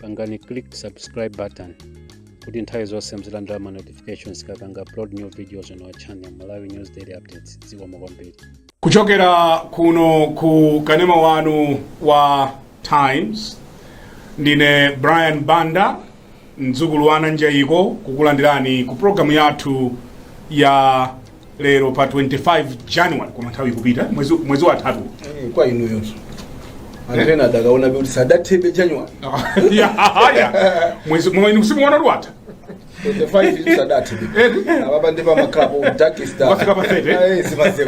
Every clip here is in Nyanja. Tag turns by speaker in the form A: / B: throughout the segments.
A: pangani click subscribe button kuti nthawi zonse muzilandira ma notifications tikapanga upload new videos on our channel malawi news daily updates zikomo kwambiri kuchokera
B: kuno ku kanema wanu wa times ndine brian banda mdzukulu wa ananjayiko kukulandirani ku programu yathu ya lero pa 25 january koma nthawi ikupita mwezi, mwezi wathatu Eh, kwa
C: inuyonso anthu ena akadaona kuti sadathebe january
B: aya mwezi mwa- inu simuona kuti watha
C: 25 sadathebe Eti? apapa ndi pamaklabu dakista Wafika pa 30?
B: zimazeu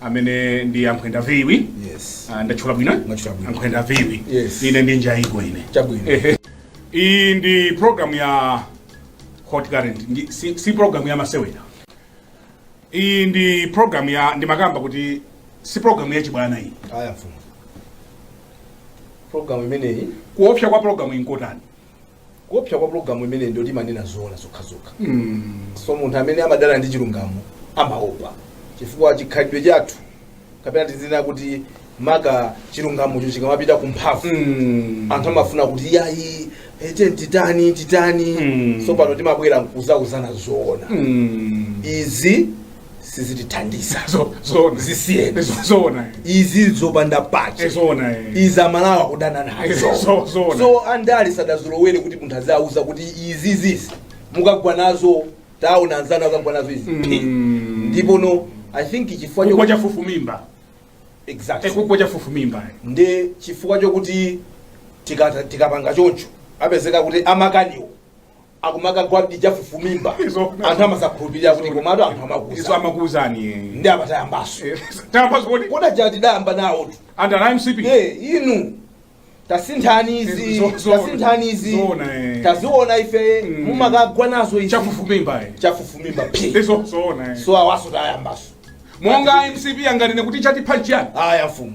B: amene ndi ankhwenda viwi yes Ah,
C: ndatchula bwino
B: Mwatchula bwino. ankhwenda viwi Yes. ine ndi
C: njayiko ine
B: Chabwino. Ehe.
C: iyi ndi
B: program ya hot current ndi, si, si program ya masewera iyi ndi program ya ndimakamba kuti si program ya chibwana iyi aya mfumu
C: program imeneyi kuopsa kwa program
B: nkotani
C: kuopsa kwa pulogalamu imeneyi nkoti imanena zoona zokhazokha so munthu amene amadana ndi chilungamo amaopa chifukwa chikhalidwe chathu kapena tizinena kuti maka chilungamocho chikamapita ku mphamvu anthu amafuna kuti yayi ete titani titani Mm. so pano timabwera nkuzauzana zoona izi sizitithandiza Zo-
B: zoona zisiyeni Zo- zoona izi
C: zopanda pache Eh, zoona eh.
B: izi
C: amalawi kudana nazo Eh, zo- zoona. so andale sadazolowere kuti munthu aziwauza kuti izi zizi mukagwa nazo taona anzanu anagwa nazo izi phi. Mm. ndipo no i think chifukwa kugwa cho
B: chafufumimba Eh,
C: exactly kugwa
B: chafufumimba eh. ndi chifukwa
C: chokuti tikata- tikapanga choncho apezeka kuti amakaniwo akumakagwadi chafufumimba Izo- anthu amasakhulupirira kuti komatu anthu izo amakuza
B: amakuuzani ndi amatayambaso
C: tayambaso kodi
B: kodi aja tidayamba
C: nawotu anthu a mcp Eh,
B: inu
C: tasinthani izi Zo- zo- tasinthani izi zoona, eh. taziona ife Mm. mumakagwa nazo izi chafufumimba
B: eh. chafufumimba phi izo
C: zoona eh. so
B: awaso tayambaso
C: monga
B: mcp anganene kuti chatipha chiyani aya mfumu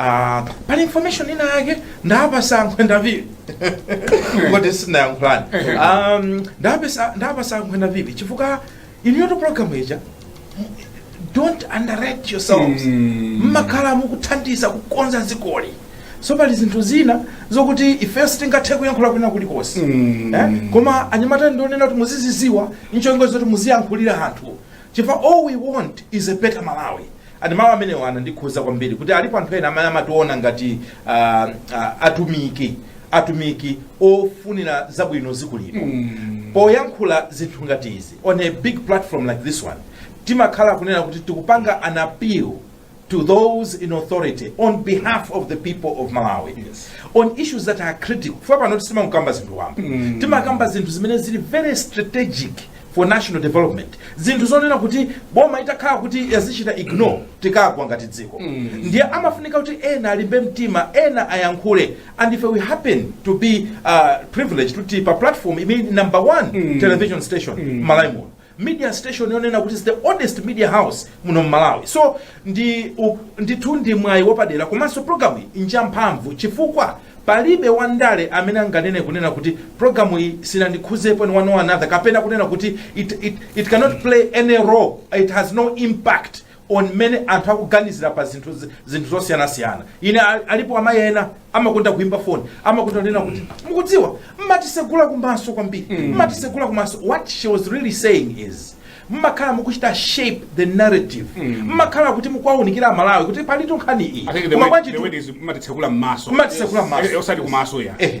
D: Ah, pali information ina yake ndapasa ankhwenda viwi kuti sinayankhulani um, ndapasa ndapasa ankhwenda viwi chifukwa inuyotu program ija don't underrate yourselves Mm. mmakhala mukuthandiza kukonza dzikoli so pali zinthu zina zokuti ifeyo sitingathe kuyankhula kwina kulikonse Mm. eh? koma anyamata ndionena kuti muziziziwa nchongo zoti muziyankhulira anthu Chifukwa all we want is a better Malawi and mawu amenewo anandikhuza kwambiri kuti alipo anthu ena amene amationa ngati ah, ah, atumiki atumiki ofunira zabwino dziko lino poyankhula zinthu ngati izi on a big platform like this one timakhala kunena kuti tikupanga an appeal to those in authority on behalf of the people of malawi Yes. on issues that are critical kufa pano sitimakamba zinthu wamba timakamba zinthu zimene zili very strategic for national development zinthu zonena kuti boma itakhala kuti yazichita ignore tikagwa ngati dziko ndiye amafunika kuti ena alimbe mtima ena ayankhule and if we happen to be uh, privileged kuti pa platform imene number one television station mm. malawi muno Media station yonena kuti is the oldest media house muno m'Malawi so ndi u- ndithu ndi mwayi wapadera komanso programu iyi njamphamvu chifukwa palibe wandale amene anganene kunena kuti programu iyi sinandikhuzepo in one or another kapena kunena kuti it, it, it cannot play any role it has no impact on mmene anthu akuganizira pa zinthu zi- zinthu zosiyanasiyana ine a- alipo amayi ena amakonda kuyimba foni amakonda kunena kuti mukudziwa mumatitsegula kumaso kwambiri mumatitsegula kumaso what she was really saying is mumakhala mukuchita shape the narrative mumakhala kuti mukuwaunikira amalawi kuti palitu nkhani iyi I think the Koma word, bwanji the tu- word is
B: matitsekula mmaso. Matitsekula mmaso. Eh, eh, Osati kumaso ya. Eh,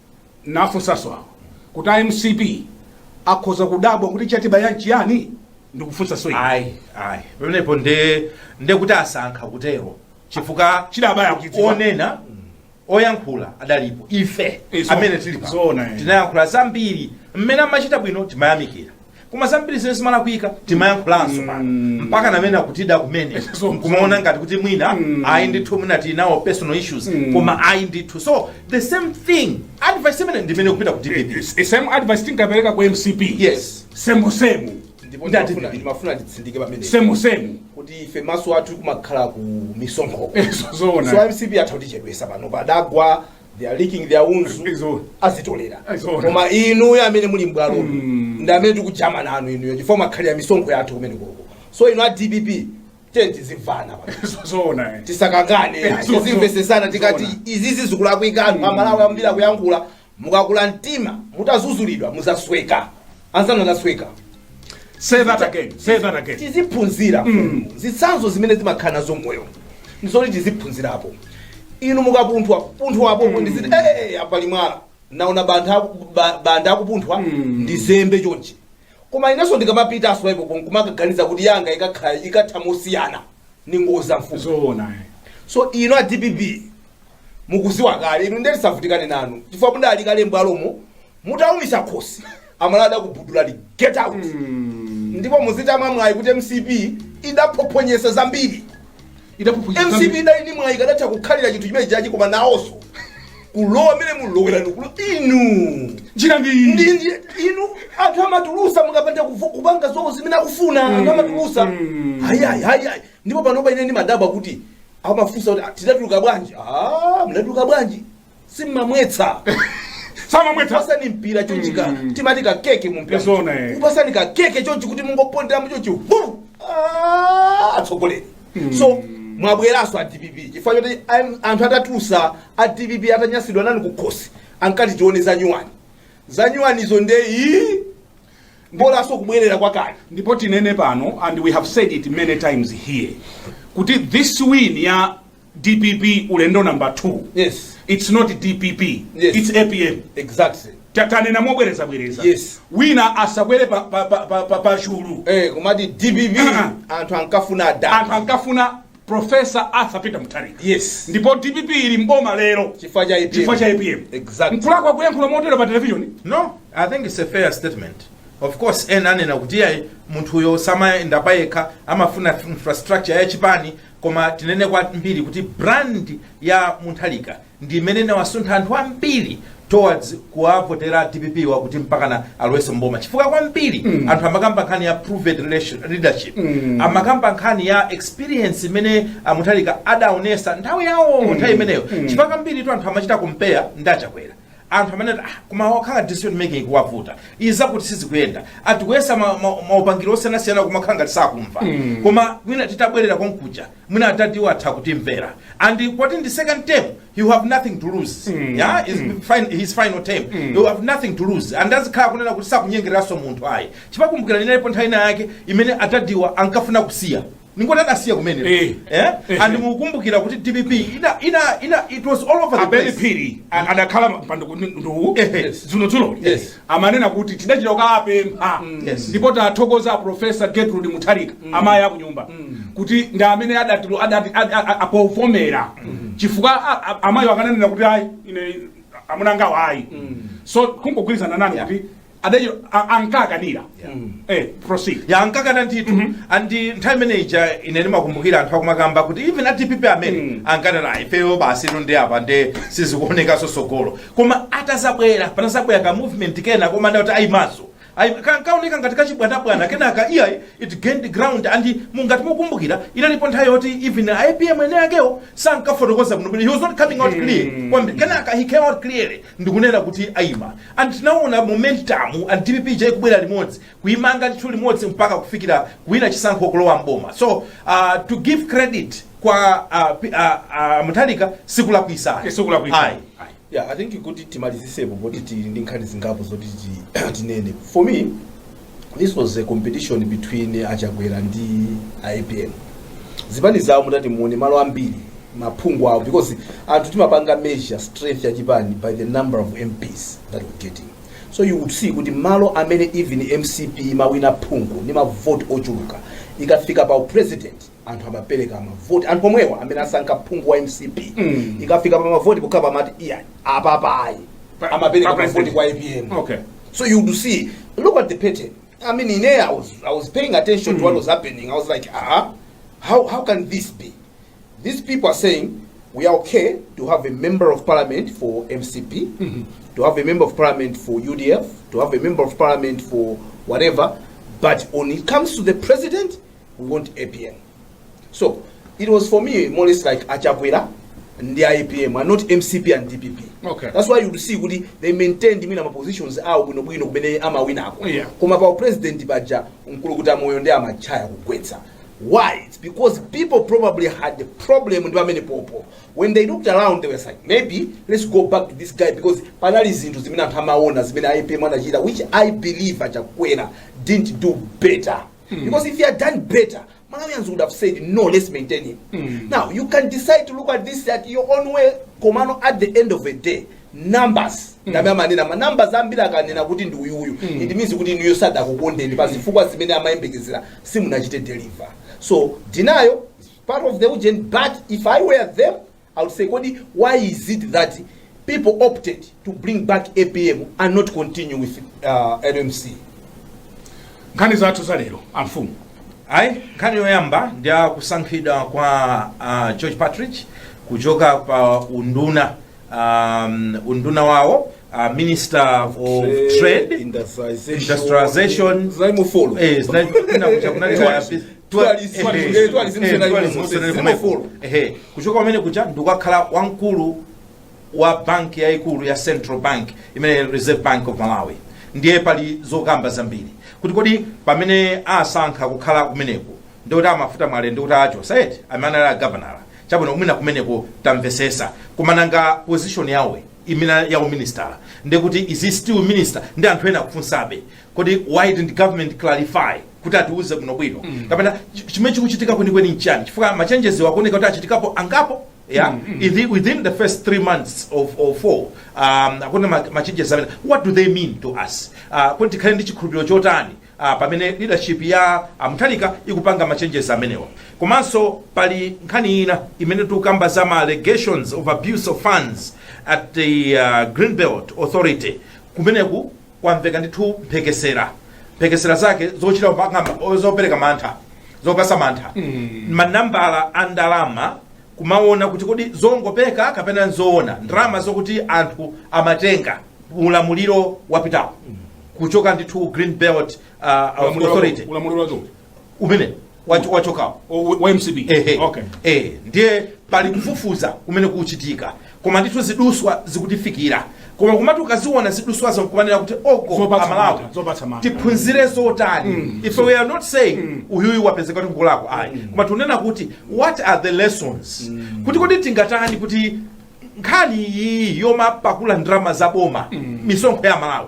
B: nafunsaso awa kuti a mcp akhoza kudabwa kuti chatibaya nchiyani ndikufunsaso ine. ayi ayi
D: pamenepo nde nde kuti asankha kutero chifukwa Chidawabaya akuchidziwa. onena oyankhula adalipo ife Izo. amene tili pano Zoona, eh. tinayankhula zambiri mmene amachita bwino timayamikira koma zambiri zimene zimalakwika timayankhulanso pano mpaka ndi mmene akutida kumene So- nkumaona ngati kuti mwina ayi ndithu mwina tili nawo personal issues koma ayi ndithu so the same thing advice imene ndi imene ikupita ku dpp It's- it's same advice
B: tinkapereka ku mcp yes
D: semu
B: semu ndipo Ndi
C: ati ndimafuna- dpp. ndimafuna nditsindike pamene semu semu kuti
B: ife maso
C: athu amakhala ku misonkho Eh, so- zoona. so
B: mcp atha
C: kutichedwesa pano padagwa they are licking their wounds Izo. azitolera Izo. koma inuyo amene muli m'bwalo ndi amene tikujama nanu inuyo chifukwa makhaliro a misonkho yathu kumene koko so inu a dpp tiyeni tizimvana pa Izo- zoona
B: eh. tisakangane
C: Eh, so- tizimvetsetsana so- tikati zoona. izizi zikulakwika anthu amalawi ambiri akuyankhula mukakula mtima mukadzudzulidwa mudzasweka anzanu anasweka
B: Say that again. Say that again.
C: tiziphunzira zitsanzo zimene zimakhala mmoyo ndizoti tiziphunzirapo inu mukapunthwa punthwa apo ndiziti "Eh, apa pali mwala naona bantha aku- ba- bantha akupunthwa ndizembe chonchi koma inenso ndikamapita osati kumakaganiza kuti yanga ikakhala ikatha mosiyana ni ngozi za mfumu Zoona. eh. so inu a dpp mukudziwa kale inu nde tisavutikane nanu chifukwa mudali kale mbwalomo mutaumitsa khosi amalawi adzakubudulani get out ndipo muzitamwa mwayi kuti mcp idaphonyetsa zambiri Idaphophonyetsa mcp zambiri. idali ndi mwayi akadatha kukhalira chinthu chimenechi koma nawonso kulowa mmene mulowera ndikulo inu Njira ndi iyi.
B: ndi ndi-
C: inu anthu amatulusa mukapanda kuvo- kupanga zowo zimene akufuna anthu amatulusa hayayi hayayi ndipo panopa ine ndimadabwa kuti amafunsa kuti Ah, tidatuluka bwanji Ah, mnatuluka bwanji simumamvetsa samamvetsa pasani mpira chonchi timati ka keke mu mpira Zona, eh. kupasani ka keke chonchi kuti mungopondera mu chonchi hu Ah, atsogoleri so mwabwezanso a dpp chifukwa choti am- anthu atatusa a dpp atanyasidwa nanu kukhosi ankati tione za nyuwani za nyuwanizo nde iyi bolanso kubwerera kwakale ndipo tinene pano
B: and we have said it many times here kuti this win ya dpp ulendo number 2 yes. its
C: not
B: dpp yes. its apm
C: exactly tanena
B: mobwereza bwereza yes. wina
C: asakwere
B: pa, pa, pa, pa, pa, pa chulu eh, kumati dpp
C: anthu ankafuna da anthu ankafuna profesa
B: arthur peter mutharika yes. ndipo
C: dpp
B: ili mboma lero chifukwa
C: cha apm exactly.
B: nkulakwa kuyankhula motero pa televisioni no i think it's
D: a fair statement of course ena amanena kuti ayi munthuyo samayenda payekha amafuna infrastructure ya chipani koma tinene kwambiri kuti brand ya mutharika ndi imene inawasuntha anthu ambiri towards kuwavotera dpp-wa kuti mpakana alowese mboma chifukwa kwambiri mm. anthu amakamba nkhani ya proven relation- leadership mm. amakamba nkhani ya experience imene a mutharika adaonesa nthawi yawo mm. nthawi imeneyo mm. chifukwa kwambiri tu anthu amachita compare ndi a chakwera anthu amene ah, kumawakhala decision making ikuwavuta izi zakuti sizikuyenda anthu kuyesa ma- ma- maupangiri osiyanasiyana kumakhala ngati sakumva koma mwina titabwerera konkuja mwina adadiwa atha kutimvera and poti ndi second term you have nothing to lose yeah is fin- his final term you have nothing to lose and azikhala kunena kuti sakunyengereranso munthu ayi chifukwa kumbukira inalipo nthawi ina yake imene adadiwa ankafuna kusiya Ndingoti adasiya kumene. Eh. Eh? Eh. And mukumbukira kuti DPP ina ina ina it was all over the place. abeni phiri a- adakhala
B: pa ndawala Ehe. dzulo dzulo Yes. amanena kuti tidachita kukapempha Yes. ndipo tathokoza a profesa gertrude mutharika amayi akunyumba kuti ndi amene adatilo- adati- ad- a- a- apavomera chifukwa a- a- amayi akananena kuti ayi ine amuna angawa ayi so kungogwirizana nanu kuti adachita a- ankakanira eh proceed ya
D: ankakana ndithu and nthawi imene ija ine ndimakumbukira anthu akumakamba kuti even a dpp amene Mm. ankanena ifeyo basi ndi apa nde sizikuonekanso sogolo koma atazabwera panazabwera ka movement kena komati adadi ayimaso Ayi- ka- kaoneka ngati kachibwanabwana kenaka iya it gained ground and ngati mukumbukira inalipo nthawi yoti even a apm eni akewo sankafotokoza bwino bwino he was not coming out clear kwambiri kenaka he came out clearly ndikunena kuti ayima And tinaona momentum ya dpp ija ikubwera limodzi kuimanga ndithu limodzi mpaka kufikira kuwina chisankho kulowa mboma so uh, to give credit kwa uh, pi- uh, uh, mutharika sikulakwisa Okay, sikulakwisa. Ayi.
C: Ayi. yeah i think kuti timalizisepo poti tili ndi nkhani zingapo zoti ti- tinene for me this was a competition between achakwera ndi apm zipani zawo mutati muone malo ambiri maphungu awo because anthu timapanga measure strength ya chipani by the number of mps that we're getting so you would see kuti malo amene even mcp imawina phungu ndi mavoti ochuluka ikafika pa upresident anthu amapereka mavoti anthu omwewa amene asankha phungu wa mcp Mm. ikafika pa mavoti pokhala pamati iya apapa ayi Pa- amapereka pa mavoti kwa apm Okay. so you do
B: see
C: look at the pattern i mean in there i was, I was paying attention to what was happening i was like ah how, how can this be these people are saying we are okay to have a member of parliament for mcp to have a member of parliament for udf to have a member of parliament for whatever but when it comes to the president we want apm so it was for me more or less like achakwera ndi apm and not mcp and dpp Okay. that's why you'd see
B: kuti
C: they maintained mwina mapositions awo bwinobwino kumene amawinako Yeah. koma pa upresident paja nkulukuta moyo ndi amachaya kugwetsa why it's because people probably had the problem ndi pamenepopo when they looked around they were like maybe let's go back to this guy because panali zinthu zimene anthu amaona zimene apm anachita which i believe achakwera didn't do better Mm. Because if he had done better, Malawians would have said, no, let's maintain him. Mm. Now, you can decide to look at this at your own way, Komano, at the end of the day, numbers mm. ndi amene amanena ma numbers ambiri akanena kuti ndi uyuyu mm. it means kuti inuyo sadakukondeni pa zifukwa zimene amayembekezera simunachite deliver so denial is part of the ujeni but if i were them I would say kodi why is it that people opted to bring back apm and not continue with uh, LMC?
B: nkhani zathu za lero amfumu ayi nkhani
D: yoyamba ndi ya kusankhidwa kwa uh, george partridge kuchoka pa unduna um, unduna wawo uh, minister of trade industrialization, industrialization. Zaimufolo. Eh, zina- kuna kucha- kuna Tourism. kuchoka pamene kuja ndikukakhala wamkulu wa banki yayikulu ya central bank imene reserve bank of malawi ndiye pali zokamba zambiri kuti kodi pamene asankha kukhala kumeneko ndikuti amafuta mwale ndikuti achotsedwa amene anali agavanala chabwino mwina kumeneko tamvesesa koma nanga position yawo ija ya uministala ndikuti is he still minister ndi anthu ena akufunsabe kodi why didn't government clarify kuti atiuze bwino bwino kapena ch- chimene chikuchitika kwenikweni nchani chifukwa machenjezi akuoneka kuti achitikapo angapo yeah Ithi- within the first three months of four um, akuna ma- machenjezi amene what do they mean to us uh, kuti tikhale ndi chikhulupiriro chotani uh, pamene leadership ya amutharika ikupanga machenjezi amenewa komanso pali nkhani ina imene tikukamba za ma allegations of abuse of funds at the uh, greenbelt authority kumeneko kwamveka ndithu mphekesera mphekesera zake zochita kupanga- zopereka mantha zopatsa mantha manambala a ndalama kumaona kuti kodi zongopeka kapena nzoona ndalama zokuti anthu amatenga ulamuliro wapitawo kuchoka ndithu green belt uh, authority ulamuliro wacho
B: umene
D: Wacho- wachokawo O- wa- wa
B: mcp Ehe. okay
D: Eh, ndiye pali kufufuza kumene kuchitika koma ndithu ziduswa zikutifikira koma kumati ukaziona ziduswazo nkumanena kuti oko Zopatsa amalawi mantha, zopatsa mantha. tiphunzire zotani if we are not saying uyuyu wapezeka kuti ngolakwa ayi koma tunena kuti what are the lessons kuti kodi tingatani kuti nkhani iyi yomapakula ndalama za boma misonkho ya
B: amalawi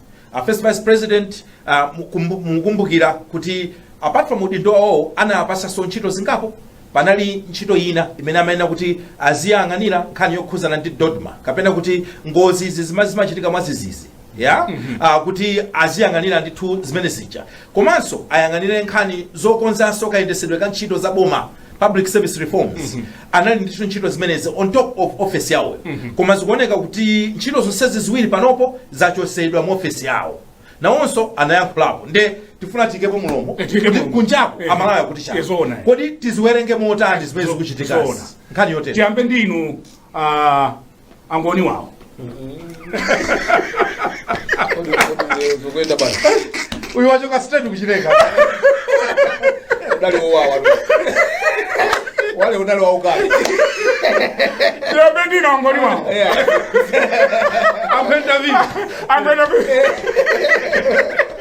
D: a first vice president uh, mukumbu- mukumbukira kuti apart from udindo wawo anawapatsanso ntchito zingapo panali ntchito ina imene amayenera kuti aziyang'anira nkhani yokhuzana ndi dodma kapena kuti ngozi izi zima- zimachitika mwadzidzidzi ya Ah, kuti aziyang'anira ndithu zimene zija komanso ayang'anire nkhani zokonzanso kayendetsedwe ka ntchito za boma public service reforms anali ndithu ntchito zimenezi on top of office yawo koma zikuoneka kuti ntchito zonsezi ziwiri panopo zachotsedwa mu office yawo nawonso anayankhulapo nde tifuna tiikepo mulomo Eh, tiikepo kuti mlomo. kunjako Eh, amalawi akuti eh, chani zoona. kodi tiziwerenge motani zimene Zo- zikuchitika zoona. nkhani yotere tiyambe ndi inu
B: ah, angoni wawo
D: uyu wachoka straight kuchileka udali
C: wowawa wale udali waukali
B: ndinapendina angoni wawo
D: ampenda vipi ampenda vipi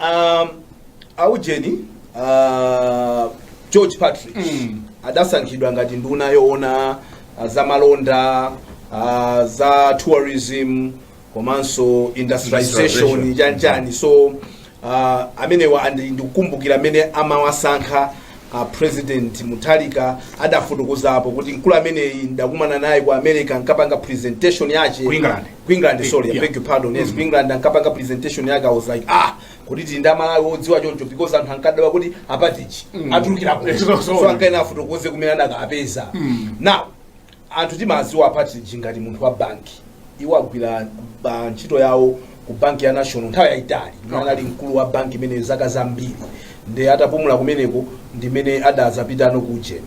C: um, aujeni uh, george partridge Mm. adasankhidwa ngati nduna yoona uh, za malonda uh, za tourism komanso industrialization Industrialization. chanchani so uh, amenewa andi- ndikukumbukira amene amawasankha uh, president mutharika adafotokozapo kuti mkulu ameneyi ndakumana naye ku america ankapanga presentation yake Ku England. ku
B: england sorry i Yeah. beg your
C: pardon yes ku england ankapanga presentation yake i was like ah kuti tili ndi amalawi odziwa choncho because anthu ankadabwa kuti a partridge atulukira kuti Yes, so- so ankayenera afotokoze kumene adakapeza now anthu timawadziwa a partridge ngati munthu wa banki iwo agwira pa ntchito yawo ku banki ya national nthawi yayitali imene anali mkulu wa banki imeneyo zaka zambiri nde atapumula kumeneko ndimene adazapitano ku ujeni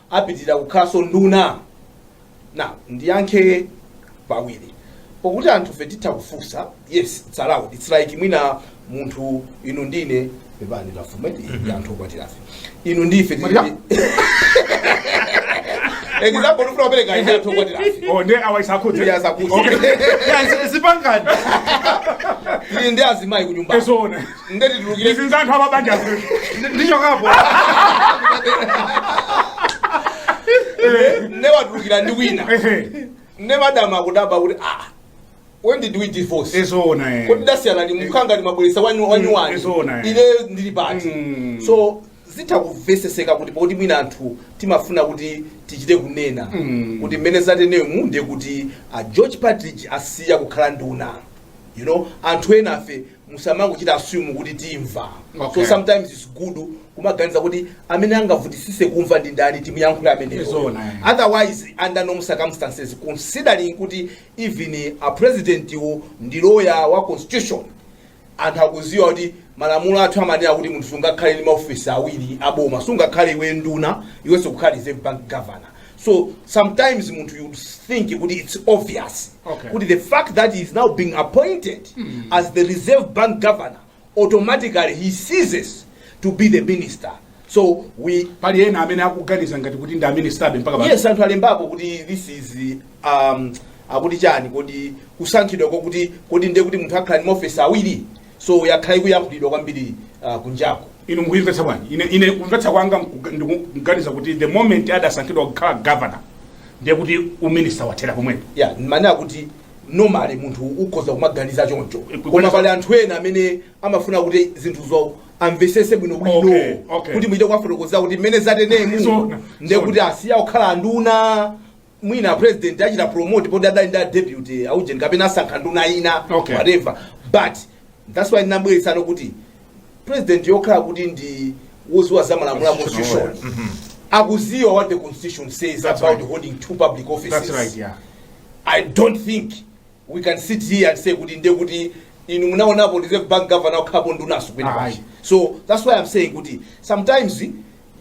C: apitilira kukhalanso nduna? Now, ndiyankhe pawiri. Pokuti anthufe titha kufunsa, yes, it's allowed. It's like mwina munthu inu ndine pepani tafume mm -hmm. anthu okwatirafe inu ndife example ndifuna kupereka ine anthu okwatirafe oh ndiye awa isakhudze
B: ndiye asakhudze okay yeah
D: zipanganani
C: ndi azimayi kunyumba esona ndiye
B: titulukire
C: izi nzanthu
B: amabanja
C: ndichokapo ne watulukira ndi wina ne madam akudabwa kuti ah when did we divorce ezoona eh. kodi dasiyana
B: ni mkhanga
C: ni mabwelesa wanyu wanyu wani izoona, eh. ine ndili pati Mm. so zitha kuveseseka kuti poti mwina anthu timafuna kuti tichite kunena Mm. kuti mmene zatenemu ndiye kuti a george partridge asiya kukhala nduna you know anthu enafe musamangochita assume kuti timva Okay. so sometimes it's good kumaganiza kuti amene angavutisise kumva ndi ndani timuyankhule ameneyo Zona, eh. otherwise under normal circumstances considering kuti even a president wo ndi lawyer wa constitution anthu akuziwa kuti malamulo athu amanena kuti munthu sungakhale ndi maofisi awiri aboma sungakhale iwe nduna iwenso ukhale reserve bank governor so sometimes munthu you think kuti it's obvious Okay. kuti the fact that he is now being appointed as the reserve bank governor automatically he ceases to be the minister so we pali ena
B: amene akuganiza ngati kuti ndi a minister be mpaka pano. yes anthu alembapo
C: kuti this is um, akuti chani kodi kusankhidwa kwakuti kodi ndiye kuti munthu akhala ndi maofisi awiri so yakhala ikuyankhulidwa kwambiri uh, kunjaku inu mukuyimvetsa
B: bwanji ine, ine kumvetsa kwanga mkuga- ndikuganiza kuti the moment adasankhidwa kukhala governor ndiye kuti uminister wathera pomwepo ndimanena
C: kuti normally munthu ukhoza kumaganiza choncho Kuganiza- koma pali anthu ena amene amafuna kuti zinthuzo amvesese bwino bwino Okay, okay. kuti muchite kuwafotokozera kuti mmene zatenemu Zona, ndiye zona. kuti asiya kukhala anduna mwina a president achita promote poti adali ndi a deputy a ujeni kapena asankha nduna ina Okay. whatever but that's why ndinabweretsanso kuti president yokhala kuti ndi woziwa za malamulo a constitution akuziwa what the constitution says That's right. about holding two public offices That's right, yeah.
B: i don't
C: think we can sit here and say kuti ndiye kuti inu munaonapo reserve bank governor akhalapo ndunaso kwina Ayi. kwake so that's why i'm saying kuti sometimes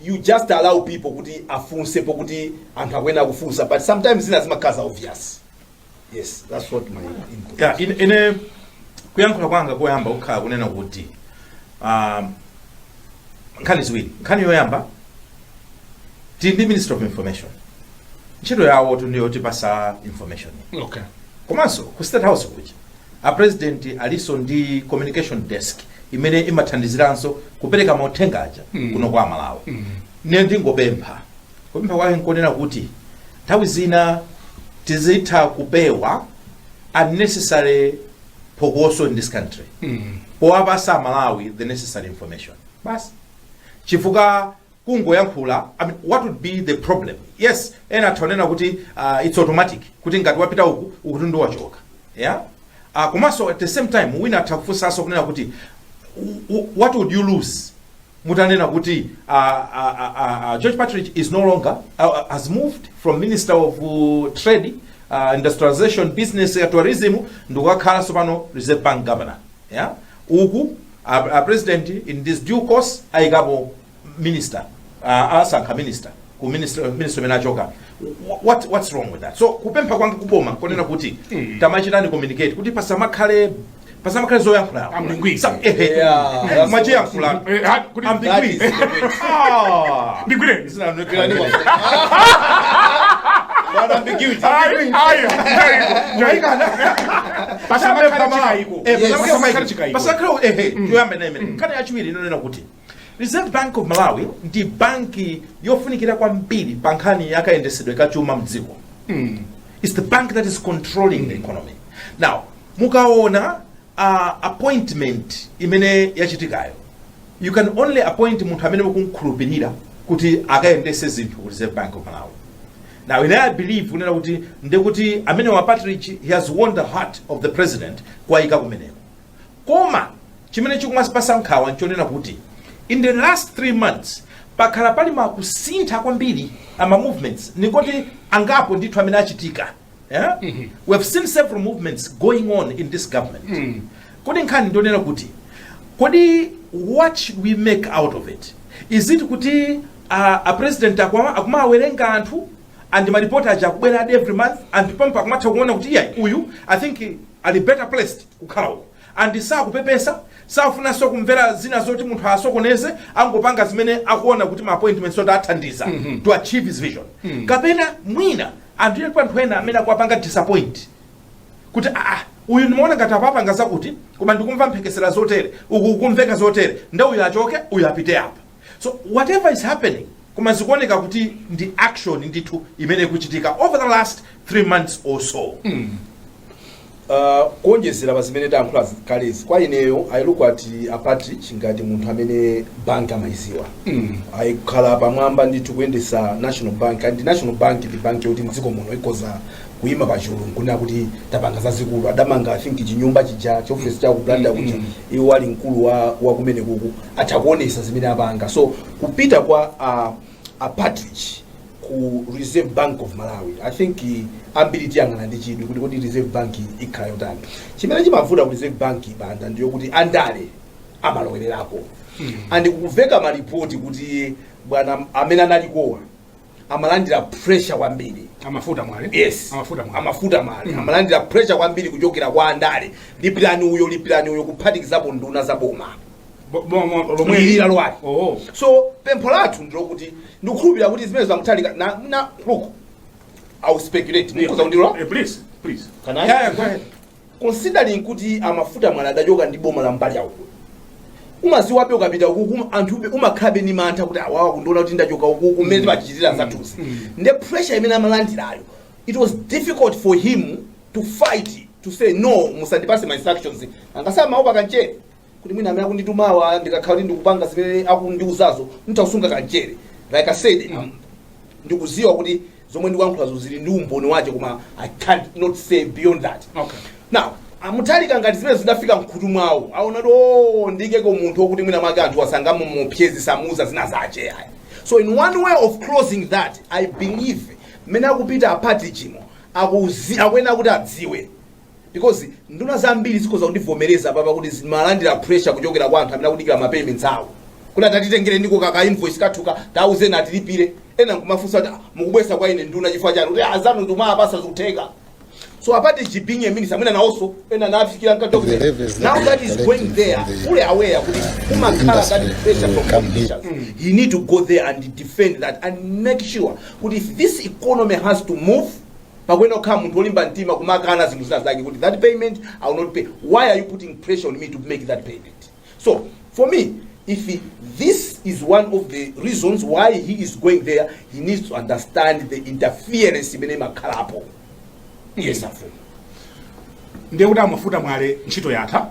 C: you just allow people kuti afunse pokuti anthu akuyenera kufunsa but sometimes zina zimakhala za obvious yes that's what my input ya ine,
D: ine kuyankhula kwanga koyamba kukhala kunena kuti um, nkhani ziwiri nkhani yoyamba tili ndi minister of information ntchito yawotu ndi yotipasa information
B: okay komanso
D: ku state house kuja a president alinso ndi communication desk imene imathandiziranso kupereka mauthenga aja kuno kwa amalawi ne ndingopempha kupempha kwake nkonena kuti nthawi zina tizitha kupewa unnecessary phokoso in this country powapasa amalawi the necessary information basi chifukwa kungoyankhula I mean, what would be the problem yes ena atha kunena kuti uh, it's automatic kuti ngati wapita uku ukuti ndi wachoka yeah uh, komanso at the same time wina atha kufunsanso kunena kuti w- w- what would you lose mutanena kuti uh, uh, uh, uh, george Partridge is no longer uh, uh, has moved from minister of uh, trade uh, industrialization business uh, tourism ndikukakhala sopano reserve bank governor yeah uku A a president in this due course ayikapo minister uh, asankha minister ku ministry imene achoka Wh- what what's wrong with that so kupempha kwanga kuboma konena kuti tamachitani communicate kuti pasamakhale pasamakhale zoyankhula Ambiguity.
B: Sa- ehe. Yeah, that's-
D: machiyankhula Eh, ha- kuti- ambiguity ah
B: ndigwireni
D: nkhani yachiwiri inonena kuti reserve bank of malawi ndi banki yofunikira kwambiri pa nkhani yakayendesedwe ka chuma mdziko its the bank that is controlling the economy now mukaona uh, appointment imene yachitikayo you can only appoint munthu amene mukumkhulupirira kuti akayendese zinthu ku reserve bank of malawi now ine i believe kunena kuti ndekuti amene wa Partridge he has won the heart of the president kuwayika kumeneko koma chimene chikumasipasa nkhawa nchonena kuti in the last three months pakhala pali makusintha kwambiri ama movements nikoti angapo ndithu amene achitika Eh? Mhm. We have seen several movements going on in this government. Mm. Kodi nkhani ndonena kuti kodi what should we make out of it? Is it kuti uh, a president akumawawerenga anthu and maripoti aja akubwera every month and pompo akumatha kuona kuti iyayi uyu I think ali better placed kukhala uko. And sakupepesa, safunanso kumvera zina zoti munthu asokoneze, angopanga zimene akuona kuti ma appointments oti athandiza mm -hmm. to achieve his vision. Mm -hmm. Kapena mwina anthu ena anthu ena amene akuwapanga disappoint kuti ah, ah uyu ndimaona ngati apapanga zakuti koma ndikumva mphekesera zotere uku kumveka zotere nde uyu achoke uyu apite apa So whatever is happening koma zikuoneka kuti ndi action ndithu imene ikuchitika over the last three months or so Uh,
C: kuonjezera pa zimene tayankhula kalezi kwa ineyo I look at a Partridge ngati munthu amene bank amayiziwa mm. akhala pamwamba ndithu kuyendesa national bank and national bank ndi bank yoti mdziko muno ikoza kuima pachulu nkunena kuti tapanga zazikulu adamanga i think chinyumba chija chiofesi cha ku blantyre kuja iwo ali mkulu wa, wa kumene kuku atha kuonesa zimene apanga so kupita kwa uh, a partridge ku reserve bank of malawi i think eh, ambiri tiyang'ana ndi chidwi kuti kodi reserve bank ikhala yotani chimene chimavuta ku reserve bank banda ndiyo kuti andale amalowererako and kumveka malipoti kuti bwana amene analikowa amalandira pressure kwambiri a mafuta mwale
B: yes a mafuta mwale a
C: mafuta mwale mm. amalandira pressure kwambiri kuchokera kwa andale lipirani uyo lipirani uyo kuphatikizapo nduna za boma Bo- bo- mo- lomwe mwilira lwali oh so pempho lathu ndilokuti ndikukhulupirira kuti zimene za a mutharika na, na look i will speculate mukhoza kundilola Eh, please please
B: Can I? yeah,
C: yeah, go ahead considering kuti a mafuta mwale adachoka ndi boma la mbali yawo umaziwabe ukapita ukuku anthu umakhalabe ni mantha kuti awawa akundiona kuti ndachoka ukuku mmene timachitira zathuzi nde pressure imene amalandirayo it was difficult for him to fight to say no musandipase ma instructions angasamaopa kanchere kuti mwina amene akunditumawa ndikakhala kuti ndikupanga zimene akundiuzazo nditha kusunga kanchere like i said um, ndikuziwa kuti zomwe ndikuyankhulazo zili ndi umboni wache koma i cannot say beyond that Okay. now a mutharika ngati zimenezi zidafika mkhutu mwawo aona kuti o ndiikeko munthu okuti mwina mwake anthu sangamamuopseze samuuza zina zache ayi so in one way of closing that i believe mmene akupita a partridge umo akuzi- akuyenera kuti adziwe Because nduna zambiri zikhoza kundivomereza apapa kuti zimalandira pressure kuchokera kwa anthu amene akudikira ma payments awo kuti ah tatitengereniko kaka invoice kathuka tauzeni atilipire ena nkumafunsa kuti "Ah, mukubweza kwa ine nduna chifukwa chani kuti azanu timawapasa zikutheka so a partridge being a minister amene nawonso ena nafikira mkati wa The levels kuti- that now that he is going there collect from the- fully aware kuti umakhala industry ngati pressure will come from politicians he need to go there and defend that and make sure kuti if this economy has to move Pakuyenera kukhala munthu olimba mtima kumakana zinthu zina zake kuti that payment I will not pay. Why are you putting pressure on me to make that payment? So for me if he, this is one of the reasons why he is going there he needs to understand the interference imene imakhalapo yes afumu
B: ndiye kuti a mafuta mwale ntchito yatha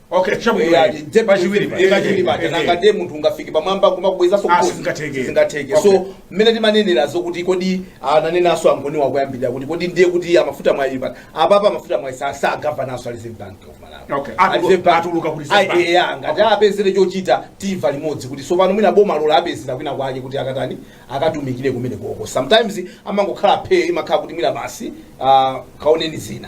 C: Okay, chabwino.
B: Eh, ati, nde- Pachiwiri pa.
C: eh, pachiwiri paja. Eh, eh. Nanga ndiye munthu ungafike pamwamba kumakubwezaso Ah, mmusi. sizingatheke. Sizingatheke. Okay. so mmene timanenerazo kuti kodi ananenanso angoni wakuyambirira kuti kodi ndiye kuti a mafuta mwale pano apapa a mafuta mwale si a- si a governor nso a reserve bank of malawi Okay. A Atulu- Reserve Bank-
B: atuluka ku Reserve Ayi, Bank. eh, ah,
C: ngati apezere chochita timva limodzi kuti tsopano mwina bomalo lawapezera kwina kwake kuti akatani akatumikire kumene koko sometimes amangokhala phe imakhala kuti mwina basi ah, kaoneni zina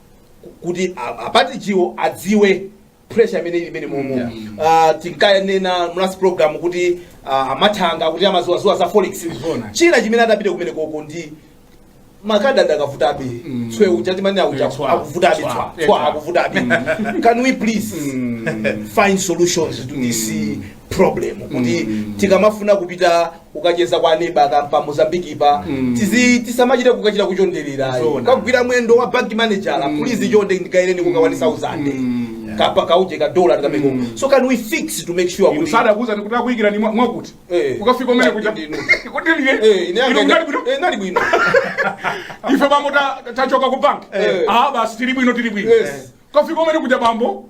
C: kuti a- apatichiwo adziwe pressure imene ili imene momo Yeah. Ah, tinkanena mu last program kuti ah, amathanga kuti amadziwadziwa za forex Zona. china chimene adapite kumene konko ndi makadi akadavutabe Mm. tswe uja timanena uja Eh, tswa. akuvutabe Tswa. tswa Eh, tswa tswa. akuvutabe can we please find solutions to this problem kuti tikamafuna kupita ukacheza kwa neba kapena pa Mozambique pa tizi tisamachite kukachita kuchondererayo Zona. kukagwira mwendo wa bank manager please chonde ndikaireni kuka 1000 kapena kauje ka dollar tikameko so can we fix to make sure kuti lusada kuza ndikuti
B: akuyikira ni mwa- mwakuti Eh. ukafika umene kuja Ndi- ndi- ndi- kuti liye Eh, ine ino yanga-
C: kunali bwino eh, nali bwino
B: ife bambo ta- tachoka ku bank Eh. ah basi tili bwino tili bwino Yes. kafika umene kuja bambo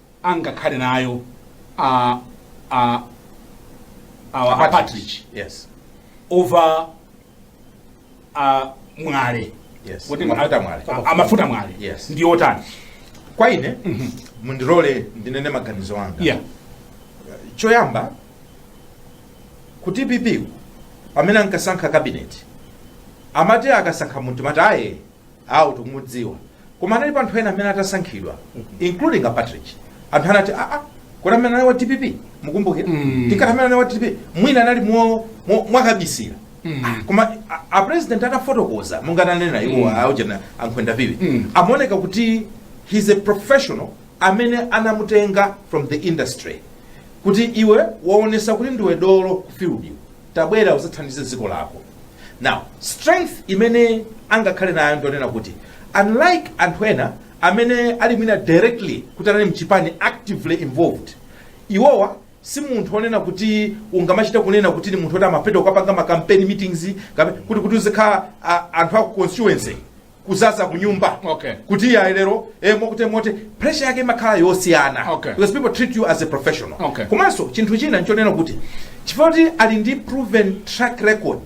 B: angakhale nayo a a awa a Patrick
D: yes over
B: a mwale yes Kuti mafuta
D: a- mwale a- amafuta
B: mwale Yes. ndi otani kwa
D: ine mundilole ndinene maganizo anga yeah choyamba ku dpp pamene ankasankha cabinet amati akasankha munthu mati aye awo tikumudziwa koma analipo anthu ena amene atasankhidwa including a patrick anthu anati aa kodi ameneyu ndi wa dpp mukumbukira tinkati ameneyu ndi wa dpp mwina anali mo- mo- mwakabisira Ah, koma a- a president atafotokoza monga ananenera iwo aujana a Nkhwenda viwi amaoneka kuti he's a professional amene anamutenga from the industry kuti iwe waonesa kuti ndiwe dolo ku field tabwera uzathandize dziko lako now strength imene angakhale nayo ndi yonena kuti unlike anthu ena amene ali mwina directly kuti anali mchipani actively involved iwowa si munthu onena kuti ungamachita kunena kuti ni munthu oti amapita kukapanga ma campaign meetings kapena kuti kuti uzikhala a- anthu aku constituency kuzaza kunyumba Okay. kuti iyayi lero eh, mwakuti mwakuti pressure yake imakhala yosiyana Okay. because people treat you as a professional Okay. komanso chinthu china nchonena kuti chifukwa kuti ali ndi proven track record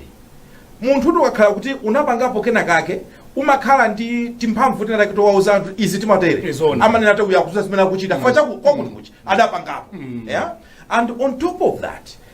D: munthu ukakhala kuti unapangapo kena kake umakhala ndi timphamvu tina take towauza anthu izi timatere Zoona. amanena kuti uyu akudziwa zimene akuchita chifukwa chakuti kwakuti kuti adapangapo yeah? and on top of that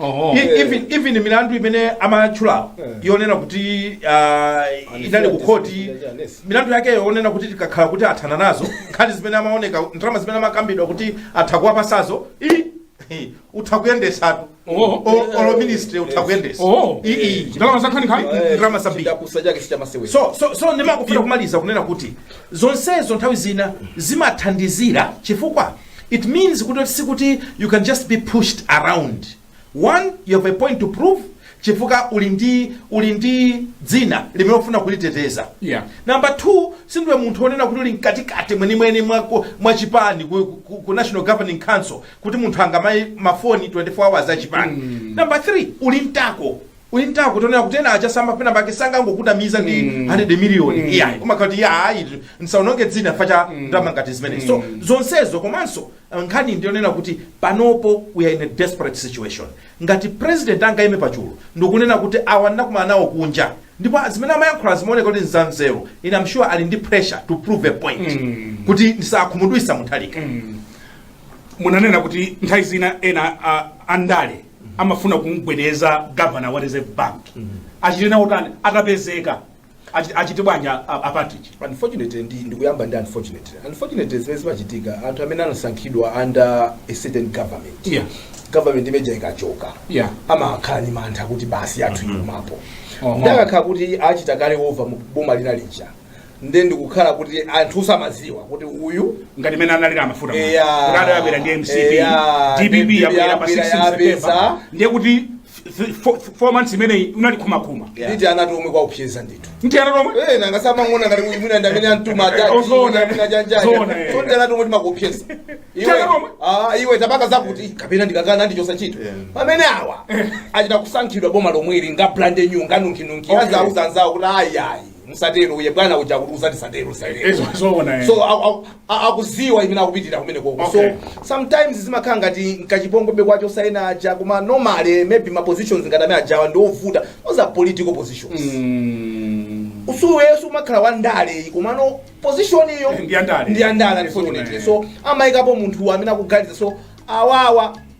C: Oho. E- even
D: even milandu imene amatchulawo Eh. yonena kuti ah, inali ku khoti milandu yake yonena kuti tikakhala kuti athana nazo nkhani zimene amaoneka ndalama zimene amakambidwa kuti atha kuwapatsazo i- i- utha kuyendesatu Oho. O- olo ministry utha kuyendesa Oho. I- i.
B: Ndalama zankhaninkhani? Eh, Ndalama
D: zambiri. chidapusa chake sichamasewera so so so ndimafuna kumaliza kunena kuti zonsezo nthawi zina zimathandizira chifukwa It means kuti sikuti you can just be pushed around. One, you have a point to prove chifukwa uli ndi uli ndi dzina limene ufuna kuliteteza. Yeah. Number two, sindiwe munthu onena kuti uli mkatikati mwenimweni mwa ku- mwa chipani ku, ku, ku National Governing Council kuti munthu angamayimbe mafoni 24 hours a chipani. Number three, uli mtako. wonena kuti ena achasamba penapake sangangokunamiza ndi 100 million iyayi kumakhala kuti iya ayi ndisaononge dzina chifukwa cha ndalama ngati zimenezo so zonsezo komanso uh, nkhani ndiyonena kuti panopo we are in a desperate situation ngati president angayime pachulu ndikunena kuti awa ndinakumana nawo kunja ndipo zimene amayankhula zimaoneka kuti nzanzeru ine am sure ali ndi pressure to prove a point kuti ndisakhumudwise Mutharika
B: munanena kuti nthawi zina ena a- andale amafuna kumgwedeza governor wa reserve bank achite naye utani atapezeka achi- achite bwanji a- a- a Partridge unfortunately ndi
C: ndikuyamba ndi unfortunately unfortunately zimene zimachitika anthu amene anasankhidwa under a certain government Yeah. government ime ija ikachoka Yeah. amakhala ni mantha kuti basi athu ikuthapo Oho. nde akakhala kuti achita kale over mu boma lina lija nde ndikukhala kuti anthu samaziwa kuti uyu ngati mene
B: analili amafuta ngati abera ndi mcp dpp yabwera pa 16 september ndiye kuti 4 months imeneyi unali kumakhuma nditi anati omwe
C: akuwopsyeza ndithu nditi anati omwe eh nanga
B: samangona ngati
C: uyu mwina ndamene antuma eh, atatu zona mwina janjani zona eh. so nditi anati omwe tumakuopsyeza iwe ah iwe tabaka zakuti kapena ndikakana andichosa ntchito eh. pamene awa achita kusankhidwa boma lomweli nga brand new nga nunki nunki azauza anzao kuti ayi ayi musatero uye bwana uja kuti usati satero satero Izo- zoona, eh. so au- au- a- akuziwa imene akupitira kumene koko Okay. so sometimes zimakhala ngati nkachipongwe kwacho osati ena aja koma normally maybe ma positions ngati amene aja awa ndi ovuta those are political positions iweyo sumakhala wa ndale komano position iyo Ndi ya ndale. ndi ya ndale Yes, unfortunately una, so amayikapo munthu amene akuganiza so awawa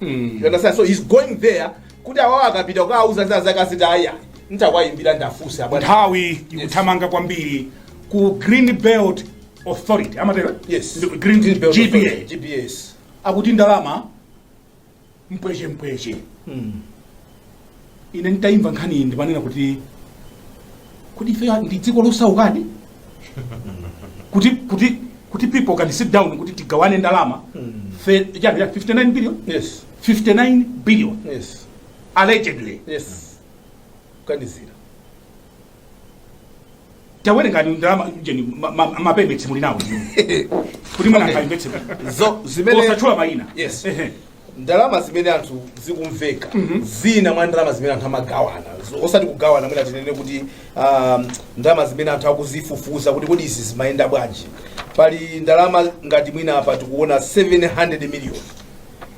C: you understand so he's going there kuti awawa akapita kukawauza za zakutizakuti aya ntawayimbira ndiwafunse abwana nthawi ikuthamanga
B: kwambiri ku green belt authority amatero yes Ndi- green, Green Belt gba Authority,
C: GBAs akuti ndalama
B: mpweche mpweche ine nditayimva nkhani iyi ndimanena kuti kodi ife ndi dziko losaukadi kuti kuti kuti people can sit down kuti tigawane ndalama fe- chani, 59 billion yes 59 billion yes allegedly yes kuganizira tawerengani ndalama jeni ma- ma- mawerengetse muli nawo kuti mwana Okay. akamvetse
C: Zo-
B: zimene- osatchula mayina Yes. Ehe.
C: ndalama zimene anthu zikumveka zina mwa ndalama zimene anthu amagawana zo- osati kugawana mwina tinene kuti um, ndalama zimene anthu akuzifufuza kuti kodi izi zimayenda bwanji pali ndalama ngati mwina apa tikuona 700 million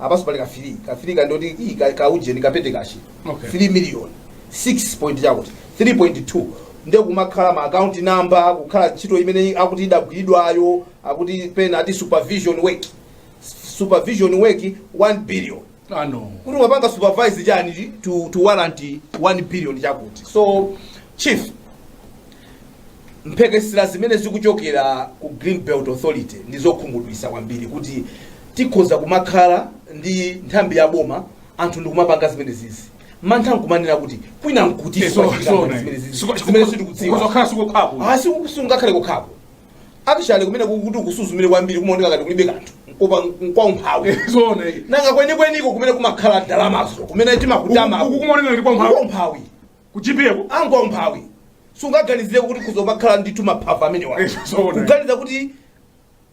C: apanso pali ka 3 ka ndoti i ka, ka ujeni ka petty cash Okay. 3 million 6 point chakuti 3.2 nde kumakhala ma account number kukhala ntchito imene akuti idagwiridwayo akuti pena ati supervision work supervision work 1 billion Ah, no.
B: kuti wapanga supervise
C: chani to, to warrant 1 billion chakuti so chief mphekesera zimene zikuchokera ku green belt authority ndi zokhumudwitsa kwambiri kuti tikhoza kumakhala ndi nthambi ya boma anthu ndikumapanga zimene zizi mantha nkumanena kuti kwina nkutinso zimene sitikudziwa kudzakhala
B: sikokhapo asi sungakhale
C: kokhapo actually kumene kukuti ukusuzumire kwambiri kumaoneka ngati kulibe kanthu nkopa nkwaumphawi zoona iyi nanga kwenikweniko kumene kumakhala ndalamazo kumene timakutama Uku- uku kumaoneka ngati kwaumphawi.
B: kwaumphawi kuchipereka ngati
C: kwaumphawi sungaganizire kuti kudzamakhala ndithu maphava amenewa Eh, zoona. kuganiza kuti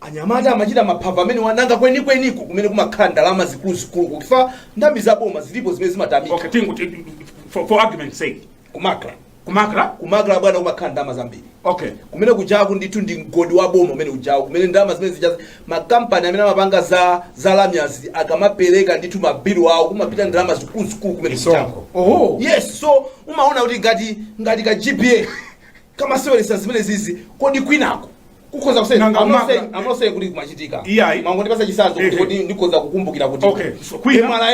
C: anyamata amachita maphava amenewa nanga kwenikweniko kumene kumakhala ndalama zikuluzikulu chifukwa nthambi za boma zilipo zimene zimatamika okay tingu
B: ti- for, for argument sake kumakla kumakla kumakla bwana kumakhala ndalama zambiri okay kumene kujaku ndithu
C: ndi mgodi wa boma umene ujaku kumene ndalama zimene zijazi makampani amene amapanga za za lamya zija akamapereka ndithu ma bill awo kumapita ndalama zikuluzikulu kumene Misonkho. oho yes so umaona kuti ngati ngati ka gpa kamaseweretsa zimene zizi kodi kwinako kukhoza kusema I'm not saying kuti kumachitika Iyayi. mwangondipatsa chitsanzo kuti Ehe. kodi ndikhoza kukumbukira kuti Okay, so kwina- MRA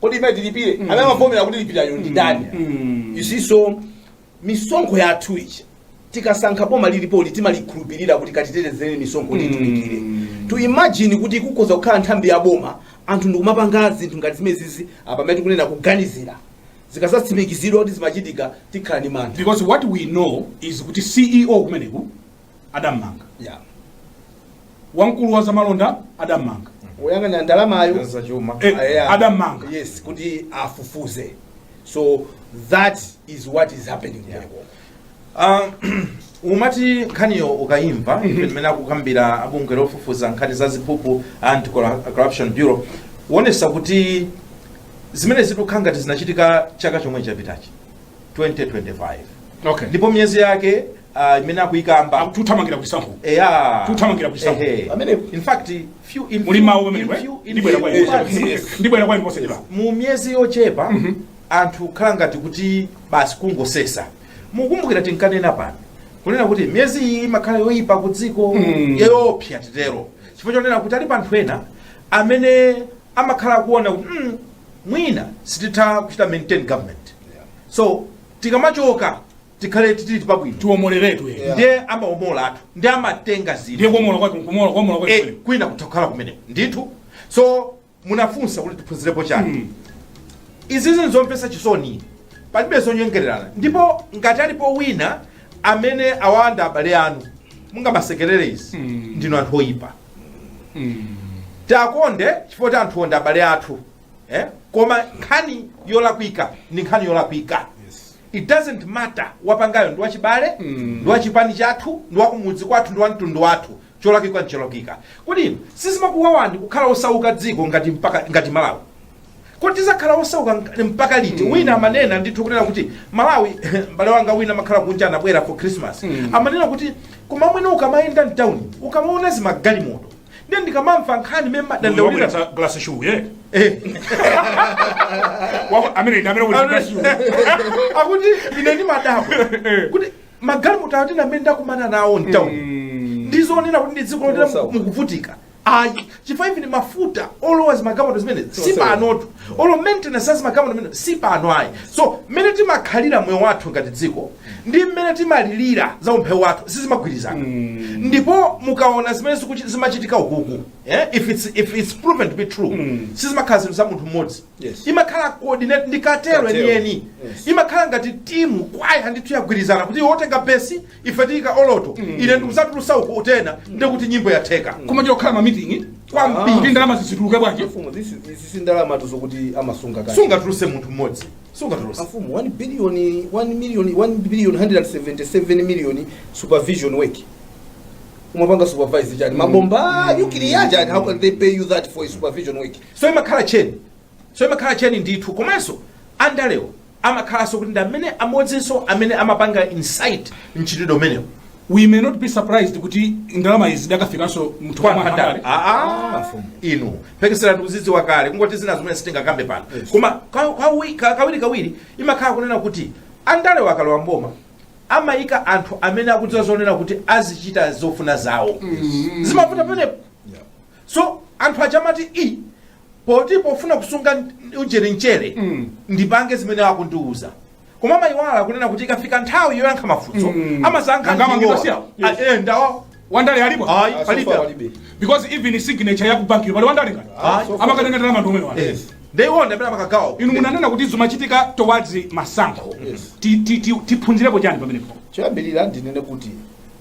C: kodi imene tilipire amene amavomera kuti lipirayo ndi ndani you see so misonkho yathu ija tikasankha boma lilipo timalikhulupirira kuti katitetezere misonkho titumikire to imagine kuti kukhoza kukhala nthambi ya boma anthu ndikumapanga zinthu ngati zimenezizi apa pamene tikunena kuganizira zikadzatsimikizidwa kuti zimachitika tikhala ndi mantha because what we know
B: is kuti ceo kumeneku adammanga Yeah. wamkulu wa zamalonda adammanga woyang'anira
C: ndalamayo Za chuma. Eh,
B: Yeah. adammanga. yes kuti
C: afufuze so that is what is happening Yeah. kumeneko.
D: Ah, umati nkhaniyo ukayimva imene akukambira abungwe lofufuza nkhani za ziphuphu anti corruption bureau kuonetsa kuti zimene zikukhala ngati zinachitika chaka chomwe chapitachi 2025 okay
B: ndipo miyezi
D: yake ah, imene akuyikamba akuthamangira
B: kuchisankho eya Tuthamangira ku chisankho. Ehe. Pamene- in fact
D: few in muli few- mawu in pamenepo eh? few- in ndibwera few kwa inu
B: months, posachedwa. yes. ndibwera kwa inu posachedwa mu miyezi yochepa
D: anthu khala ngati kuti basi kungosesa mukumbukira tinkanena pano kunena kuti miyezi iyi imakhala yoyipa ku dziko yoopsa titero chifukwa chonena kuti alipo anthu ena amene amakhala akuona kuti mm, mwina sititha kuchita maintain government so tikamachoka tikhale titili pabwino tiwomoleredwe Yeah. ndiye
B: amaomola
D: athu ndiye amatenga zinthu ndiye kuomola kwake kumola
B: kuomola kwake Eh, kwina kutakhala
D: kumeneko ndithu so munafunsa kuti tiphunzirepo chani izizi nzomvetsa chisoni palibe zonyengererana ndipo ngati alipo wina amene awanda abale anu mukamasekerera izi ndinu anthu oyipa tiwakonde chifukwa choti anthuwo ndi abale athu eh? koma nkhani yolakwika ndi nkhani yolakwika it doesn't matter wapangayo ndi wachibale ndi wachipani chathu ndi wakumudzi kwathu ndi wamtundu wathu cholakwika ncholakwika kodi inu sizimakuwawani kukhala osauka dziko ngati mpaka ngati malawi kodi tizakhala osauka nk- mpaka liti wina amanena ndithu kunena kuti malawi mbale wanga wina amakhala kunja anabwera for christmas amanena kuti koma mwene ukamayenda mtawuni ukamaona zimagalimoto ndiye ndikamamva nkhani mmene mumadandaulira Wabweretsa glass shoe, yeah. Eh. Wa- amene ndi amene wabweretsa glass shoe. akuti ine ndimadabwa kuti magalimoto atina amene ndakumana nawo mtawuni ndizonena kuti ndi dziko loti Osauka. mukuvutika ayi chifukwa even mafuta olowa mzimagalimoto zimenezi si Sosewera. panotu olo maintenance azimagalimoto zimene si pano ayi so mmene timakhalira moyo wathu ngati dziko ndi mmene timalilira za umphawi wathu sizimagwirizana ndipo mukaona zimene zikuchi- zimachitika ukuku eh, if it's, if it's proven to be true sizimakhala zinthu za munthu mmodzi Yes. imakhala coordinate ndikatero Katero. enieni Yes. imakhala ngati timu kwaya ndithu yagwirizana kuti iwe utenga besi ife tiika oloto ine ndi uzatulusa uku utena ndikuti nyimbo yatheka koma chokhala
B: mamitingi kwambiri kuti ndalama zizituluke bwanji Mfumu, this is- this is
C: ndalamatu zokuti amasunga kale. sungatuluse munthu mmodzi
D: sungatuluse Mfumu, 1 billion 1
C: million 1 billion 177 million supervision work. Umapanga supervise chani? Mabomba nuclear chani? How can they pay you that for supervision work? so imakhala cheni
D: so imakhala cheni ndithu komanso andalewo amakhalanso kuti ndi amene amodzinso amene amapanga incite mchitidwe umenewu we may not
B: be surprised kuti ndalama izi zakafikanso mthumba mwa andale andale. Ah, ah.
D: inu mphekesera ndikuzidziwa kale kungoti zina zimene sitingakambe pano koma ka- kawi- ka- kawiri kawiri imakhala kunena kuti andale akalowa mboma amayika anthu amene akudziwa zonena kuti azichita zofuna zawo zimavuta pamenepo so anthu aja amati poti pofuna kusunga n- ujeni mchere Mm. ndipange zimene akundiuza koma amayiwala kunena kuti ikafika nthawi yoyankha mafunso Mm. amasankha Nanga amangidwa ndi awowa. siyawo? Ah, eh, ndawo wandale alipo
B: ayi Ah, palibe so far
D: palibe. because
B: even signature ya kubankiko pali wandale ngati Ah, so far. amakatenga ndalama ndi omwewa Yes. ndeiwo
D: ndamene amakagawa inu munanena kuti
B: zimachitika towards masankho Yes. Ti- ti- ti- tiphunzirepo chiyani pamenepo choyambirira ndinene
C: kuti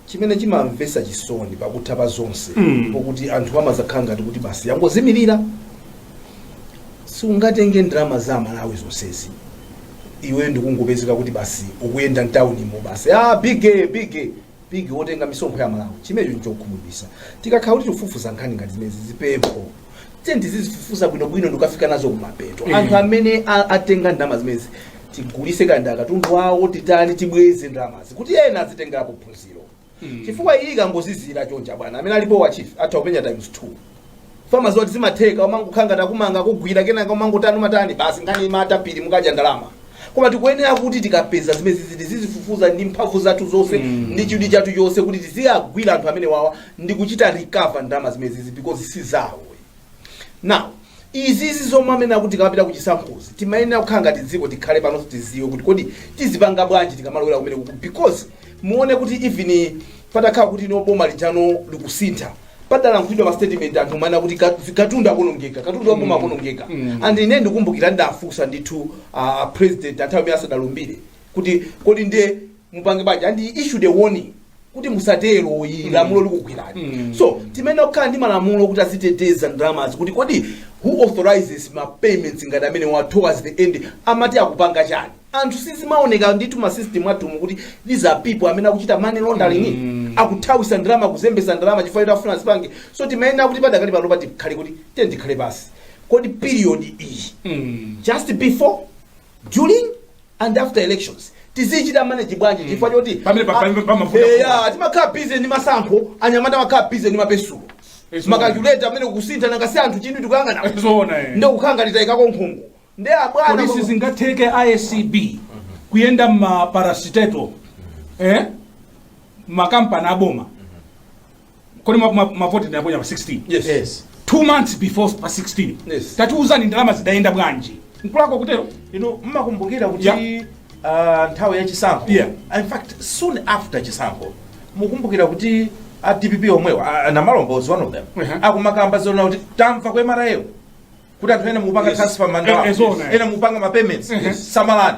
C: Chimene chimamvetsa chisoni pakutha pa zonse mpokuti anthu amadzakhala ngati kuti basi yangozimirira. Siungatenge ndalama za Amalawi zonsezi iweyo ndikungopezeka kuti basi ukuyenda mtaunimo basi ah, bige bige bige wotenga misonkho ya Malawi. Chimenecho nchokhumudwitsa. Tikakhala kuti tikufufuza nkhani ngati zimenezi chipempho tiye tizizifufuza bwinobwino ndikafika nazo kumapeto Eh. anthu amene a- atenga ndalama zimenezi tigulise kaya ndi akatundu wawo titani tibweze ndalamazi kuti ena azitengerapo phunziro chifukwa iyi ikangozizira chonchi bwana amene alipo wa chief atha kupenya times two amadziwa kuti zimatheka umangokhala ngati akumanga akugwira kenaka umangotani umatani basi nkhani imatha pomwe mukadya ndalama koma tikuyenera kuti tikapeza zimenezi tizizifufuza ndi mphamvu zathu zonse ndi chidwi chathu chonse kuti tiziyagwira anthu amenewawa ndi kuchita recover ndalama zimenezi because si zawo now izizi zomwe amanena kuti tikamapita kuzisankhozi timayenera kukhala ngati dziko tikhale pansi tidziwe kuti kodi tizipanga bwanji tikamalowera kumenekuku because muone kuti even patakhala kuti no boma lijali likusintha padalankhulidwa ma statement anthu amanena kuti ka- katundu akonongeka katundu waboma akonongeka and ine ndikumbukira ndinafunsa ndithu a president nthawi imene asadalumbire kuti kodi ndiye mupange bwanji and he issued a warning kuti musatero iyi lamulo likugwirani so timayenera kukhala ndi malamulo kuti aziteteza ndalamazi kuti kodi who authorizes ma payments ngati amenewa towards the end amati akupanga chiyani anthu sizimaoneka ndithu mma system athumu kuti these are people amene akuchita money laundering akuthawisa ndalama kuzembesa ndalama chifukwa choti afuna azipanga so timayenera kuti padakali pano titakhala kuti tiye tikhale pansi kodi period iyi just before during and after elections tizichita manage bwanji chifukwa choti Pamene pa- pamene pamavuta Eya, timakhala busy ndi masankho anyamata amakhala busy ndi mapesulo Yes, makalkuleta amanena kusintha nanga si anthu chinthu tikuyang'ana zina eh. ndiye kukhala ngati tayikako nkhungu ndiye bwanji sizingatheke
B: a acb kuyenda mmaparasiteto eh? makampani aboma kodi ma- ma- mavoti tinaponya pa 16 Yes. Yes.
C: two months
B: before pa 16 Yes.
C: tatiuzani ndalama
B: zidayenda bwanji nkulako kutero inu mmakumbukira
D: kuti Yeah. ah, nthawi ya chisankho Yeah. in fact soon after chisankho mukumbukira kuti a dpp omwewo ah, namalomba was one of them Uh-huh. akumakamba zonena kuti tamva ku mra kuti anthu ena mupanga Yes. transfer Eh, eh, zona, ndalama eh. ena mupanga ma payments samalani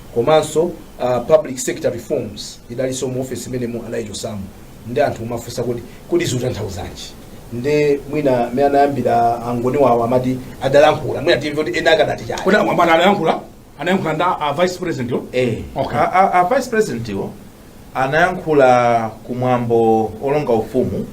C: komanso uh, public sector reforms idalinso mu office imene mu adaichosamo nde anthu kumafunsa kuti kodi zikutanthauzanji nde mwina mene anayambira angoni wawo amati adalankhula mwina timve kuti ena akadati chani Kodi amanena adayankhula?
B: Anayankhula ndi a vice president yo? eh Okay. a, a, a
D: vice president wo anayankhula ku mwambo olonga ufumu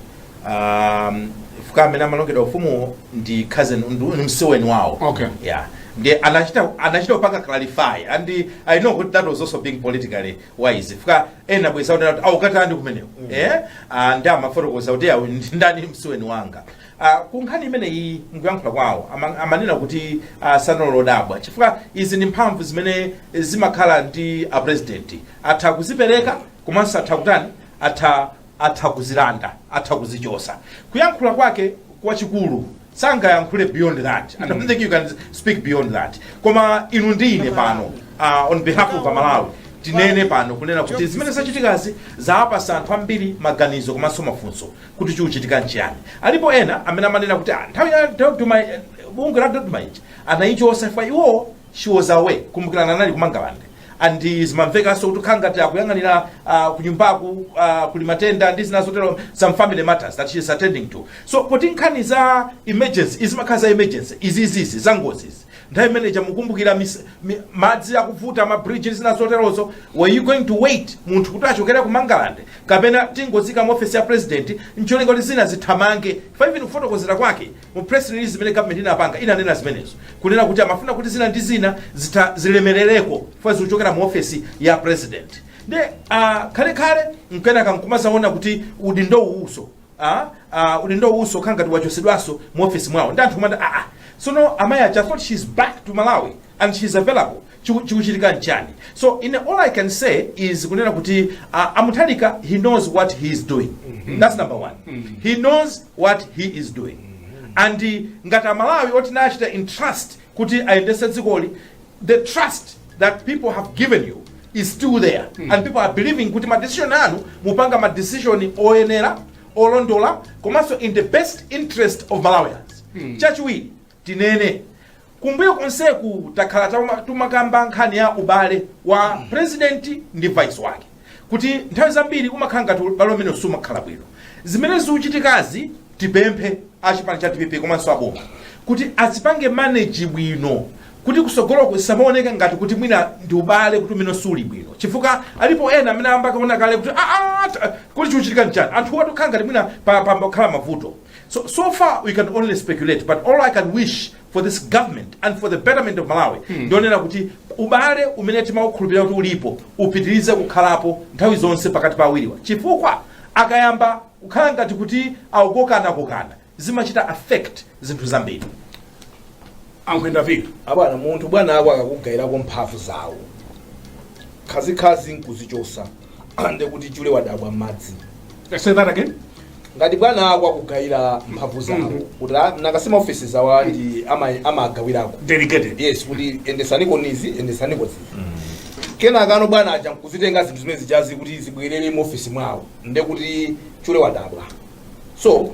D: um, fuka amene amalongedwa ufumuwo ndi cousin ndi msiweni wawo Okay. yeah
B: ndiye
D: anachita anachita kupanga clarify and i know kuti that was also being politically wise fuka ena abweza kuti akukatani kumeneko eh Ah, nde amafotokoza kuti awu ndi ndani msiweni wanga Uh, ku nkhani imeneyi mkuyankhula kwawo ama- amanena kuti uh, sanali odabwa chifukwa izi ndi mphamvu zimene zimakhala ndi a president atha kuzipereka komanso atha kutani atha atha kuzilanda atha kuzichosa kuyankhula kwake kwachikulu sangayankhule beyond that i don't think you can speak beyond that koma inu ndi ine pano uh, on behalf of a Malawi tinene pano kunena kuti zimene zachitikazi zawapasa anthu ambiri maganizo komanso mafunso kuti chikuchitika nchiyani alipo ena amene amanena kuti "Ah, nthawi ya dodma eh, bungwe la dodma ija anayichosa chifukwa iwowo she was away kumbukirani anali kumangalande and zimamvekanso kuti zikukhala ngati akuyang'anira uh, kunyumbaku uh, kuli matenda ndi zina zotero some family matters that she is attending to so poti nkhani za emergency zimakhala za emergency izizizi za ngozizi nthawi imene ija mukumbukira mis- mi- madzi akuvuta ma bridge ndi zina zoterozo were you going to wait munthu kuti achokere ku mangalande kapena tingoziika mu office ya president ncholinga kuti zina zithamange fa even kufotokozera kwake mu press release imene government inapanga inanena zimenezo kunena kuti amafuna kuti zina ndi zina zi- zilemerereko fa zikuchokera mu office ya president nde uh, kenaka- kenaka nkumazaona kuti udindo uwuso a a udindo uwuso ukhala ngati wachosedwaso mu office mwawo ndi anthu kumati aa sono amayi aja I thought she's back to malawi and she's available Chiku- chikuchitika nchani so all i can say is kunena kuti uh, a Mutharika he knows what he is doing that's number one he knows what he is doing and uh, ngati amalawi oti tinachita entrust kuti ayendese dzikoli the trust that people have given you is still there mm. and people are believing kuti ma decision anu mupanga ma decision oyenera olondola komanso in the best interest of malawians mm. chachiwiri tinene kumbuyo konseku takhala tumakamba nkhani ya ubale wa mm. president ndi vice wake kuti nthawi zambiri umakhala ngati ubale umene sumakhala bwino zimene zikuchitikazi tipemphe achipani cha dpp komanso aboma kuti azipange manage bwino kuti kusogoloku zisamaoneka ngati kuti mwina ndi ubale umene suli bwino chifukwa alipo ena amene ayamba kuona kale kuti "Ah, ah, ta- kuti chikuchitika nchani anthu awatu akukhala ngati mwina pa- pambakhala mavuto so, so far we can only speculate but all i can wish for this government and for the betterment of malawi ndionena kuti ubale umene timaukhulupirira kuti ulipo upitirize kukhalapo nthawi zonse pakati pa awiriwa chifukwa akayamba kukhala ngati kuti akukokanakokana zimachita affect zinthu
B: zambiri akwenda vitu abwana munthu
C: bwana ako akakugayirako mphamvu zawo khazikhazi nkuzichosa nde kuti chule wadabwa m'madzi say that again
B: ngati bwana
C: ako akugayira mphamvu zawo kuti ah, nanga si maofesi awo ndi ama- amagawirako delegated
B: yes kuti endesaniko
C: izi endesaniko zizi kenakano bwana aja nkuzitenga zinthu zimene zijazi kuti zibwerere mu ofesi mwawo nde kuti chule wadabwa so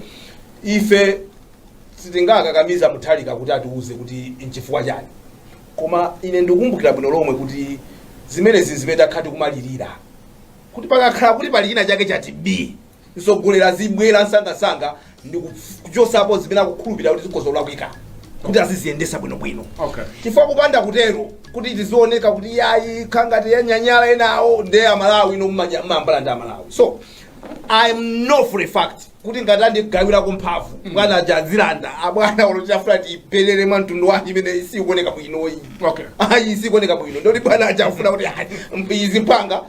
C: ife sitingakakamize Mutharika kuti atiuze kuti nchifukwa chani koma ine ndikumbukira bwino lomwe kuti zimenezi zimene takhala tikumalirira kuti pakakhala kuti pali china chake chati b Mtsogoleri azibwela msangamsanga ndikuchosapo zimene akukhulupilira kuti zikhoza kulakwika kuti aziziyendesa bwino bwino chifukwa kupanda
B: kutero
C: kuti tizioneka kuti yayi nkhanga zanyanyala enawo nde amalawi no mmanya- mmambala ndi amalawi so i know for a fact kuti ngati andigawirako mphamvu bwana aja azilanda abwana ndoti afuna ipelele mwa mtundu wake imene isikuoneka bwinoyi ayi
B: isikuoneka
C: bwino ndoti bwana aja afuna kuti ayi, izi mupanga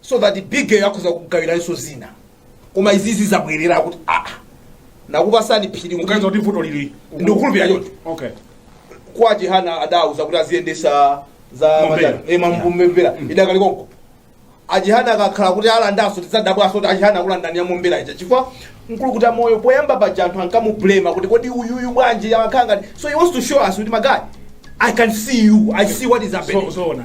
C: so that big girl akhoza kugawiranso zina koma izizi zabwerera kuti aa nakupasani phiri muganiza kuti vuto
B: lili ndikukhulupirira choncho
C: okay
B: kwa
C: Chihana adauza kuti aziyendesa za Mombera. matani- eh, mambu- mombera idakali konko a Chihana akakhala kuti alandanso tidzadabwanso kuti a Chihana akulandani ya mombera ija chifukwa mkulukutamoyo poyamba paja anthu ankamublema kuti kodi uyuyu bwanji amakhala ngati so he wants to show us kuti my guy i can see you i see what is happening so so na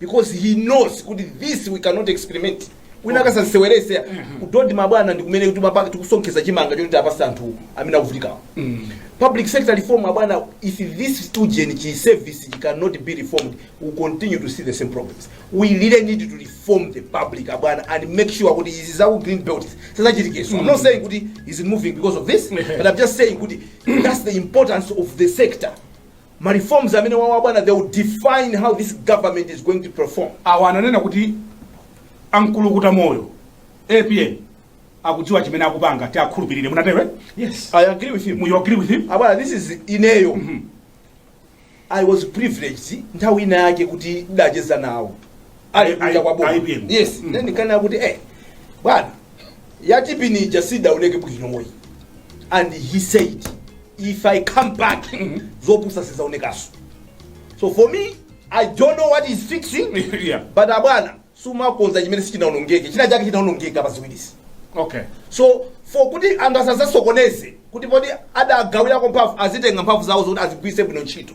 C: because he knows kuti this we cannot experiment wina akasaseweretse ku dodma bwana ndi kumene timapa- tikusonkheza chimanga choti tipatse anthu amene akuvutikawo public sector reform abwana if this civil service cannot be reformed we will continue to see the same problems we really need to reform the public abwana and make sure kuti izi zaku green belt sizichitikaso i'm not saying kuti it is not moving because of this but i'm just saying kuti that's the importance of the sector Ma reforms amenewawa abwana they will define how this government is going to perform. Awa ananena
B: kuti a mkulukutamoyo apm akudziwa chimene akupanga tiakhulupirire munatero eh? yes i
C: agree with him you agree with him
B: abwana this is
C: ineyo mm -hmm. i was privileged nthawi ina yake kuti ndacheza nawo ali kwa boma yes mm -hmm. ndinkanena kuti eh bwana yati pin ija sidaoneke bwinoyi and he said if i come back zopusa sizaonekaso so for me i don't know what he's fixing Yeah. but abwana simumakonza chimene sichinaonongeke china chake chinaonongeka pa ziwirisi okay
B: so
C: for kuti anthu asazasokoneze kuti poti adagawirako mphamvu azitenge mphamvu zawo zoti azigwiritse bwino ntchito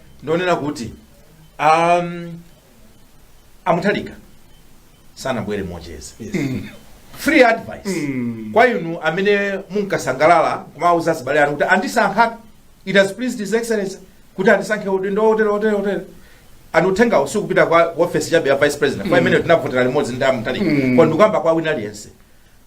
D: ndonena kuti um, a Mutharika sanabwere mocheza free advice kwa inu amene munkasangalala kumawuza azibale anu kuti andisankha it has pleased his excellency kuti andisankhe udindo wotere wotere wotere and uthengawu sukupita kwa office chabe ya vice president amene tinavotera limodzi ndi a Mutharika koma ndikukamba kwa wina aliyense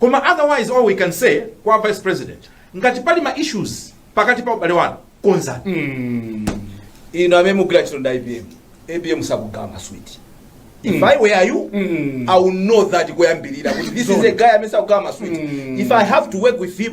C: Koma
D: otherwise all we can say kwa vice president ngati pali ma issues pakati pa ubale wanu konzani.
C: inu amene mukugwira ntchito ndi APM APM sakugawa maswiti if i were you i would know that kuyambirira kuti this is a guy amene sakugawa maswiti if i have to work with him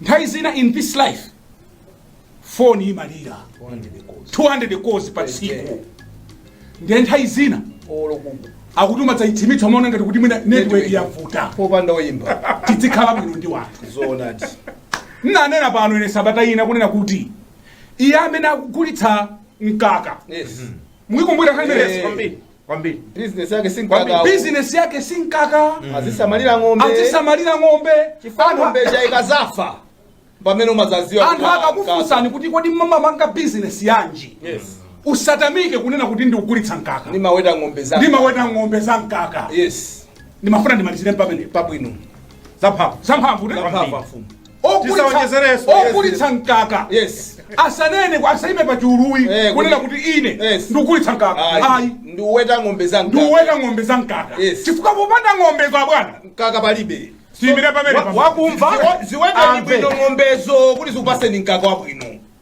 C: nthawi zina
B: in this life foni imalira 200 calls pa tsiku ndiye nthawi zina akuti imadzathima umaona ngati kuti mwina network yavuta popanda
C: oyimba tidzikhala bwino
B: ndi anthu
C: zoonadi ndinanena
B: pano ine sabata ina kunena kuti iye amene akugulitsa mkaka yes
C: mukukumbukira
B: Yes. khanelesi
D: kwambiri bizinesi yake si
C: Kwambiri. mkaka bizinesi yake si mkaka azisamalira ng'ombe azisamalira ng'ombe chifukwa Anthu- ng'ombe ija ikadzafa pamene umadzadziwa anthu akakufunsani
B: kuti kodi mumapanga bizinesi yanji
C: yes
B: usatamike kunena kuti ndikugulitsa mkaka ndimaweta ng'ombe
C: za ndimaweta ng'ombe za mkaka yes
B: ndimafuna ndimalizire pamenepo pabwino
C: zamphamvu
B: zamphamvu ne? Zamphamvu. Zamphamvu. Tisaonjezerenso. Yes. ogulitsa mkaka
C: yes asanene ku-
B: asaime pa chulu Eh, kunena kuti- kuti ine Yes. ndikugulitsa mkaka ayi ayi ndikuweta ng'ombe za
C: mkaka. ndikuweta ng'ombe za mkaka Yes. chifukwa
B: popanda ng'ombe abwana mkaka
C: palibe ndiyimire pamenepo Wa-
B: wakumva Ziwe-
C: ziweteni Amve. bwino ng'ombezo kuti zikupaseni mkaka wabwino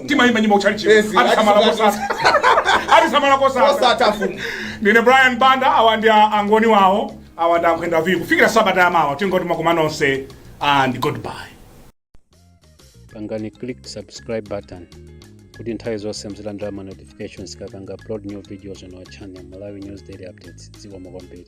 B: timayimba nyimbo kutchalichi Yes, atisamala ati- kosatha atisamala kosatha osatha mfumu ndine brian banda awa ndi a- angoni wawo awa ndi ankhwenda kufikira sabata yamawa tingoti ma comrade nonse and
A: goodbye pangani click subscribe button kuti nthawi zonse muzilandira ma notifications tikapanga upload new videos on our channel malawi news daily updates zikomo kwambiri